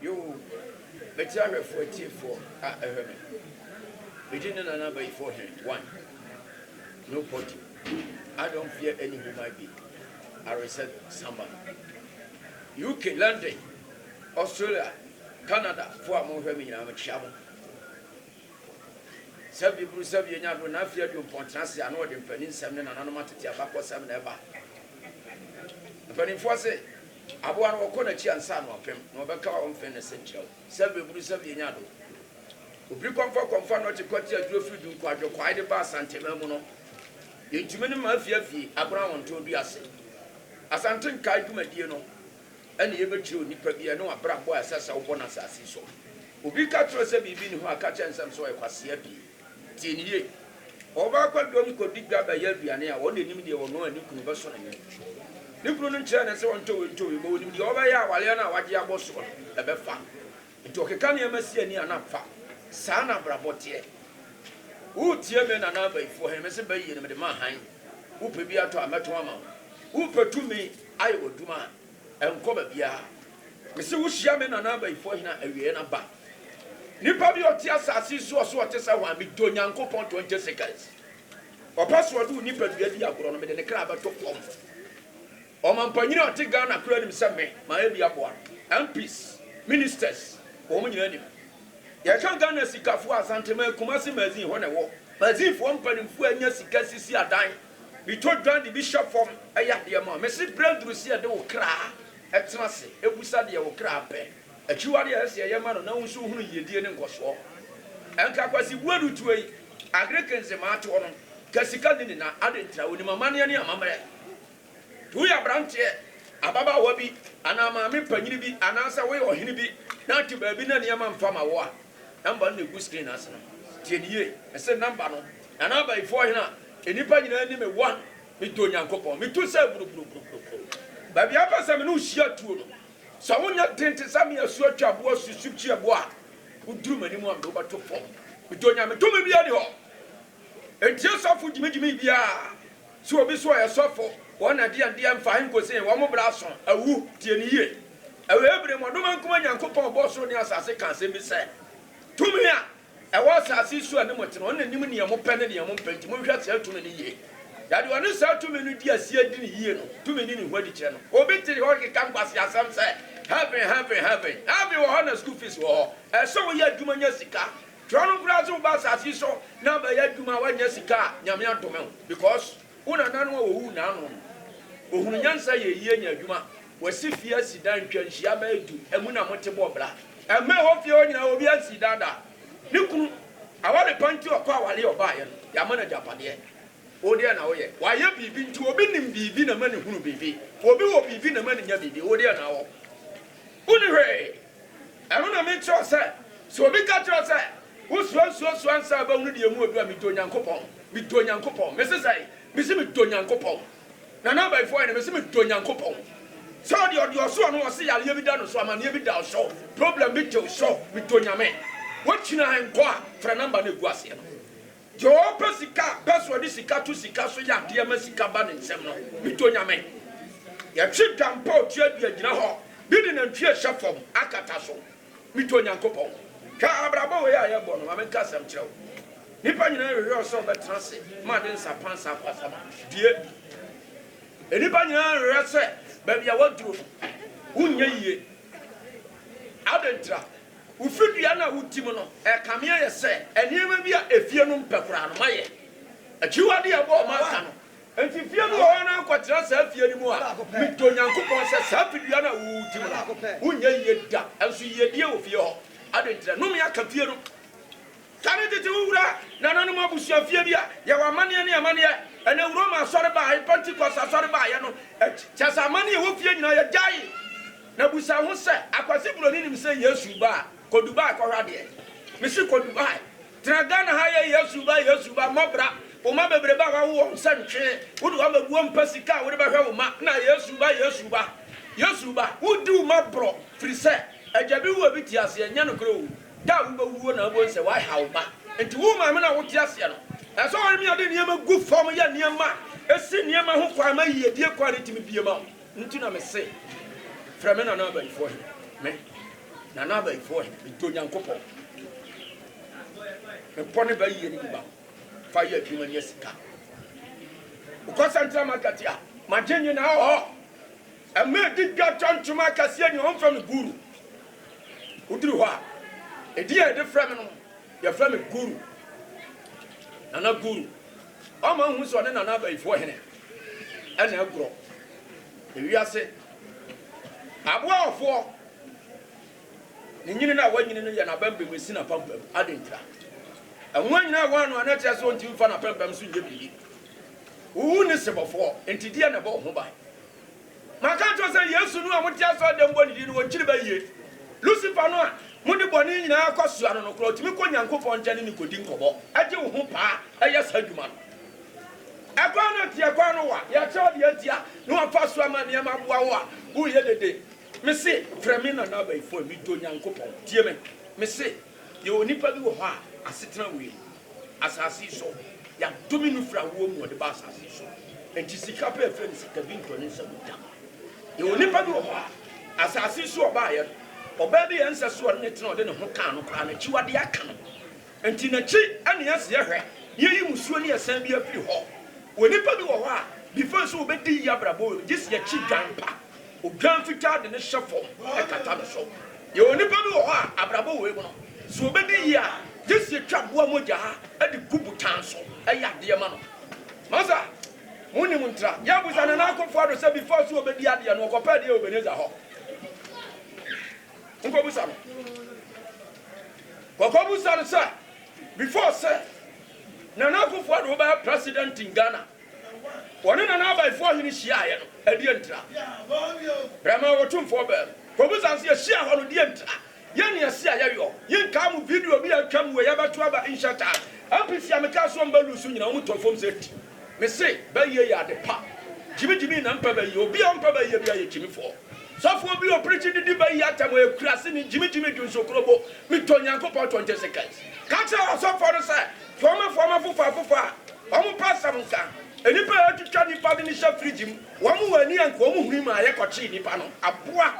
Yoo, mete ahwɛfoɔ atiefoɔ a ɛhwɛ me. Me din ne Nana Abayifoɔ Ɔhene one. No poty. I don't fear any who might be. I reset samba. UK, London, Australia, Canada foɔ a mohwɛ me nyinaa mekyea mo. Sɛ bi bru sɛ bi enya do n'afe aduɔpɔn tsena ase a, nna wɔdze mpaninnsɛm ne nananom atsetse abakɔsɛm na ɛba. Mpaninfoɔ se, Abowa no wɔkɔ n'akyi ansa na ɔpem, na ɔbɛka wo mfe ne senkyerɛw. Sɛ bi bru sɛ bi enya do. Obri kɔmfɔ kɔmfa nɔkye kɔtse aduro firi Dunku Adwokwaae de ba Asanteman mu no, yɛntumi ne ma afie afie, agona wɔntɔn dua ase. Asante Nkae dwumadie no. ɛna yɛbɛkyerɛ onipa bi ɛne wabrabɔ a ɛsɛ sɛ wobɔ no asase so. Obi ka kyerɛ sɛ biribi ne hɔ a ka kyerɛ no sɛm sɛ ɔyɛ kwasea pii. Tie no yie. Ɔbaa kwadwom kɔdi dwa bɛyɛ aduane a ɔna nim deɛ ɔno a ne kunu bɛsɔ n'ani. Ne kunu no nkyerɛɛ no sɛ ɔntɔ wei ntɔ wei, ma ɔnim deɛ ɔbɛyɛ a awaleɛ no a wagye abɔ soɔ no ɛbɛfa. Nti ɔkeka nneɛma si ani a na fa saa na abrabɔ teɛ. Woretie me Nana Abayifoɔ he, mese bɛ yie no mede ma hann, wopɛ bi atɔ a mɛtɔn ama wo, wopɛ tumi ayɛ w'adwuma a ɛnkɔ baabiaa. Mese wohyia me Nana Abayifoɔ hene a awieɛ no aba. Nipa bi a ɔte asaase yi so ɔse ɔte sɛ hwan, medɔ Nyankopɔn tɔn Jessica's. Ɔpɛ sɛ ɔde wo nipadua di agorɔ no, mede ne kra bɛto fɔm. Ɔmampanyin a ɔte Ghana koraa nim sɛ me, mayɛ bi aboa no. MPs, Ministers, wɔn nyinaa nim. Yɛka Ghana sikafo a, Asantehene, Kumasi Magazine, hɔ na ɛwɔ. Magazinefoɔ mpanimfoɔ anya sika sisi adan, bi tɔ dwa de bi hyɛ fam yɛ adeɛ ma. Mese berɛ aduru sɛ yɛde wo kra tena ase bisa deɛ wo kra pɛ. Akyiwadeɛ a ɛsɛ sɛ yɛyɛ ma no na wo nso wohunu yiedie ne nkɔsoɔ. Ɛnka Kwasi Buadu toa yi, Agric Nzemaa toɔ no, ka sika nni ne nan, adɛn nti na ɔnim amanneɛ ne amammerɛ? Sɛ woyɛ aberanteɛ, ababaawa bi, anaa maame panin bi, anaasɛ woyɛ ɔhene bi na wote baabi na nneɛma mfa mma wo a, nɔmba no na ɛgu screen no ase no. Tie no yie. Ɛse nɔmba no, Nana Abayifoɔ Ɔhene a nnipa nyinaa nim me 1. Medɔ Onyankopɔn. Metu sɛ buruburuburuburuburu. Baabi a wopɛ sɛ me ne wo hyia tuo no, sɛ wonyɛ den te sɛ me asuo twaboa susu kyiaboɔ a, woduru m'anim a, mede wo bɛto fam. Medɔ Nyame. Tumi biara nni hɔ a ɛntie sɔfo gyimigyimii biara. Sɛ obi so ɔyɛ sɔfo wɔ na deɛn deɛn mfa he nkɔsi he, wɔn bra aso, awu, tie no yie. Ɛwɔ Hebri mmɔdoma nkuma Nyankopɔn ɔbɔɔ soro ne asase kaa asɛm bi sɛ, Tumi a ɛwɔ asase yi so a ne mo te no, ɔno na nim deɛ mo pɛ ne deɛ mo mpɛ, nti mo nhwɛ saa tumi no yie. Na deɛ ɔne saa tumi no di aseɛ di no yie no, tumi ne ne ho adi kyerɛ no. Obi te hɔ keka nkwaseasɛm sɛ, Heaven, heaven, heaven, heaven wɔ hɔ na school fees wɔ hɔ, ɛsɛ sɛ woyɛ adwuma nya sika, Twerɛ no koraa sɛ woba asase yi so na abɛyɛ adwuma a woannya sika a Nyame adome wo because wo nananom a wɔwuu naano no wɔhunu nyansa yɛ yie nya adwuma wɔasi fie asi dan ntwa nhyia bɛyɛ du ɛmu na mote bɔ bra ɛmma ɛhɔ fie hɔ nyinaa obiara nsii dan da ne kunu aware pa nti ɔkɔ aware yɛ ɔbaayɛ no yɛama no agyapadeɛ wo deɛ na woyɛ wayɛ biribi nti obi nim biribi na ma ne hunu biribi obi wɔ biribi na ma ne nya biribi wo deɛ na wɔ wo ne hwee Ɛno na mekyerɛ wo sɛ, sɛ obi ka kyerɛ wo sɛ, Wosuro nsuo so ansa wobɛhunu deɛ emu ɔduru a, medɔ Nyankopɔn, medɔ Nyankopɔn, mese sɛn? Mese medɔ Nyankopɔn, Nana Abayifoɔ Hene, mese medɔ Nyankopɔn, sɛ ɔdeɛ ɔde wo so a, na ɔse yareɛ bi da no so, amaneɛ bi da wo so, problem bi te wo so, medɔ Nyame. Wokyina he nkɔ a, frɛ number no a ɛgu aseɛ no. Joe pɛ sika a pɛ so ɔde sika to sika so yɛ adeɛ ma sika ba ne nsam no bi to nyame. Yɛtwe dampa otua dua gyina hɔ bi de nantwie ɛhyɛ fam akata so bi to Onyankopɔn. Hwɛ abrabɔ wei a yɛbɔ no ma menka asɛm kyerɛ wo. Nipa nyinaa hwehwɛ wo sɛ wobɛtena ase ma ade nsapan saa kwasama die bi. Nipa nyinaa hwehwɛ sɛ baabi a waduro no wonyɛ yie. Adɛn ntira? Wo fidua no a wotim no, ɛkame ayɛ sɛ nneɛma bi a efie no mpɛ koraa no, mayɛ akyiwade a ɛbɔɔ m'aka no. Enti fie bi wɔ hɔ a na ankɔtena saa fie no mu a mede Onyankopɔn sɛ saa fidua no a wotim no, wonyɛ yiye da. Nso yiyedie wɔ fie hɔ. Adɛn nti na nnome aka fie no? Sane tete wo wura nananom abusua fie bi a yɛwɔ amanneɛ ne amanneɛ ɛnɛ Roma asɔre bae Pentecost asɔre baeɛ no akyi kyɛ sɛ amanneɛ ɛwɔ fie nyinaa yɛgyae na busa ho sɛ akwasi broni nim sɛ Yesu ba a kɔ Dubai kɔhwɛ adeɛ mese kɔ Dubai tena Ghana ha yɛ Yesu ba Yesu ba mmɔ bra wo mma bebrebe a wawo wɔn sɛ ntwee wode wɔn abɛgu hɔ mpɛ sika a wode bɛhwɛ wo mma na Yesu ba Yesu ba Yesu ba wodi wo mma borɔ firi sɛ agya bi wu a bi te aseɛ nyɛ nokorɛ o. Da a wobɛwuo na wobɛhu sɛ woaha wo mma. Enti wo maame no a wote aseɛ no, ɛsɛ sɛ ɔne me a de nneɛma gu fam yɛ nneɛma a ɛsi nneɛma ho kwan ma yiedie kwan no tumi bie ma wo. Nti na me se, Frɛ me Nana Abayifoɔ Hene. Me, Nana Abayifoɔ Hene, me dɔ Nyankopɔn. Me bɔ ne ba yie ne me ba fa yɛ adwuma nya sika. Wokɔ Central Market a, magye nyinaa wɔ hɔ. Ɛma ɛdi dwa tɔ ntoma akɛseɛ nyinaa, wɔmfrɛ me Guru. Woduru hɔ a, edin a yɛde frɛ me no, yɛfrɛ me Guru, Nana Guru. Ɔma wohu sɛ ɔne Nana Abayifoɔ hene na agorɔ. Ewiase aboafoɔ, ne nyini no a wanyini no yɛ n'abɛmbɛm si n'apampam. Adɛn ntira? Ɛho anyina wɔ ano a na ɛkyerɛ sɛ ɔntumi mfa n'apɛmpɛm so nyɛ biribi. Wowu ne sebɔfoɔ, enti deɛ na ɛbɔ wo ho ban? Maka akyerɛ wo sɛ Yesu no a mote asɔredan mu bɔ ne din no, wɔnkyiri ba yie. Lusifer no a mode bɔne nyinaa kɔsoa no no koraa, ɔtumi kɔ Onyankopɔn nkyɛn ne no kɔdi nkɔmmɔ, gye wo ho paa yɛ saa adwuma no. Ɛkwan no teɛ, ɛkwan no wa, yɛakyerɛ wo deɛ nti a na wɔafa so ama nneɛma aboa wo a woreyɛ dede. Mese, frɛ me Nana Abayifoɔ, medɔ Onyankopɔn. Tie me, mese, Yɛwɔ onipa bi wɔ hɔ a asetena wɔ yɛn asase yi so. Yɛadome no firi awoɔ mu na ɔde baa asase yi so. Enti sika pɛ ɛfrɛ no sika bi ntɔ ne nsa mu da. Yɛwɔ onipa bi wɔ hɔ a asase yi so ɔbaeɛ no, ɔbaa bi yɛ nsɛ so ɔne no tena ɔde ne ho kaa no koraa n'akyiwadeɛ aka no. Enti n'akyi na yɛasi yɛhwɛ na yɛayi musuo ne asiane bi afiri hɔ. Onipa bi wɔ hɔ a before sɛ ɔbɛdi yie abrabɔ wɔ mu no, gye sɛ yɛkyi dwan pa. Odwan fitaa de no hyɛ fam kata no so. Yɛwɔ nnipa bi wɔ hɔ a, abrabɔ wei mu no, sɛ wɔbɛdi yie a, gye sɛ yɛtwa aboa mogya de gu botan so yɛ adeɛ ma no. Masa, monim ntra? Yɛabisa Nana Akufo-Addo sɛ before sɛ ɔbɛdi adeɛ no, ɔkɔpɛ adeɛ wɔ Ebenezer hɔ. Monkɔbisa no. Kɔkɔbisa no sɛ before sɛ Nana Akufo-Addo bɛyɛ president in Ghana, Wɔne Nana Abayifoɔ Ɔhene hyiaaeɛ no, ɛdeɛn ntira? Bɛmaa wɔ Tumfoɔ Bɛɛm. Kɔbusa no sɛ, Yɛhyiaa hɔ no, deɛn ntira? Yɛn ne ɛse a yɛyɔ. Yenkaa mo video bi a atwam wei abɛto aba Insha'T'Allah. MPC a mekaa so wɔn bɛ loose nyinaa, wɔn tɔɔ fam sɛ ti. Mese, bɛyie yɛ ade pa. Gyimi gyimi na mpɛ bɛyie. Obi a ɔmpɛ bɛyie biara yɛ gyimifoɔ. Sɔfoɔ bi a ɔpreachi de di bɛyie atɛm, ɔyɛ akuraseni, gyimi gyimi dwonsokuro bo. Metɔ Nyankopɔn 20 seconds. Ka kyerɛ ɔsɔfoɔ no sɛ, Foama foama afofa afofa a wɔn pɛ asɛm nka. Nnipa a wɔatwitwa nnipa de no hyɛ fridge mu, wɔn wɔ ani anka wɔn huni maa yɛkɔkyee nnipa no. Aboa!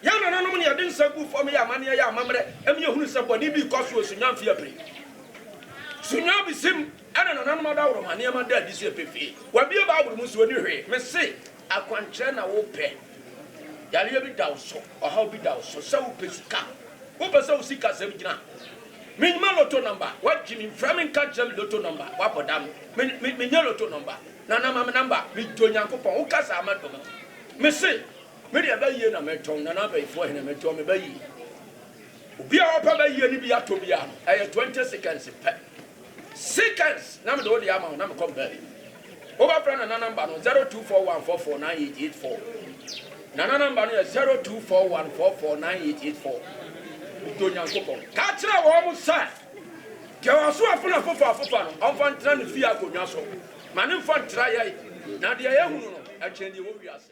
Yɛn nananom na wɔde nsa guu fam yɛɛ amanneɛ yɛɛ amammerɛ ma yɛhunuu sɛ bɔne bi rekɔ so wɔ Sunyani mfe apem. Sunyani Bisim na nananom adaworoma nneɛma da adi sɛ pefee. Wɔabue Bible mu nso wɔnni hwee. Mese! Akwankyerɛ na wopɛ? Yareɛ bi da wo so, ɔhaw bi da wo so, sɛ wopɛ sika, wopɛ sɛ wo sikasɛm gyina. Menyima lotto number, wagye me, mfrɛ me nka nkyerɛ me lotto number, wabɔ dam, me, menyɛ lotto number, Nana ma me number, medɔ Nyankopɔn, woka saa mɛdɔ me, mese, me deɛ bɛyie na mɛtɔn, Nana Abayifoɔ hene mɛtɔn me bɛyie. Obi a ɔpɛ bɛyie ne bi atɔ biara no, ɛyɛ 20 seconds pɛ, seconds, na mede wo deɛ ama wo na mekɔ me baabi. Wobɛfrɛ Nana number no 0241449884. Nana number no yɛ 0241449884. Dɔ Nyankopɔn. Ka kyerɛ wɔn sɛ, deɛ waso afon afofa afofa no, ɔmfa ntena ne fie akonnwa so. Ma no mfa ntra yɛn, na deɛ yɛahunu no, ɛkyɛn deɛ ɛwɔ wiase.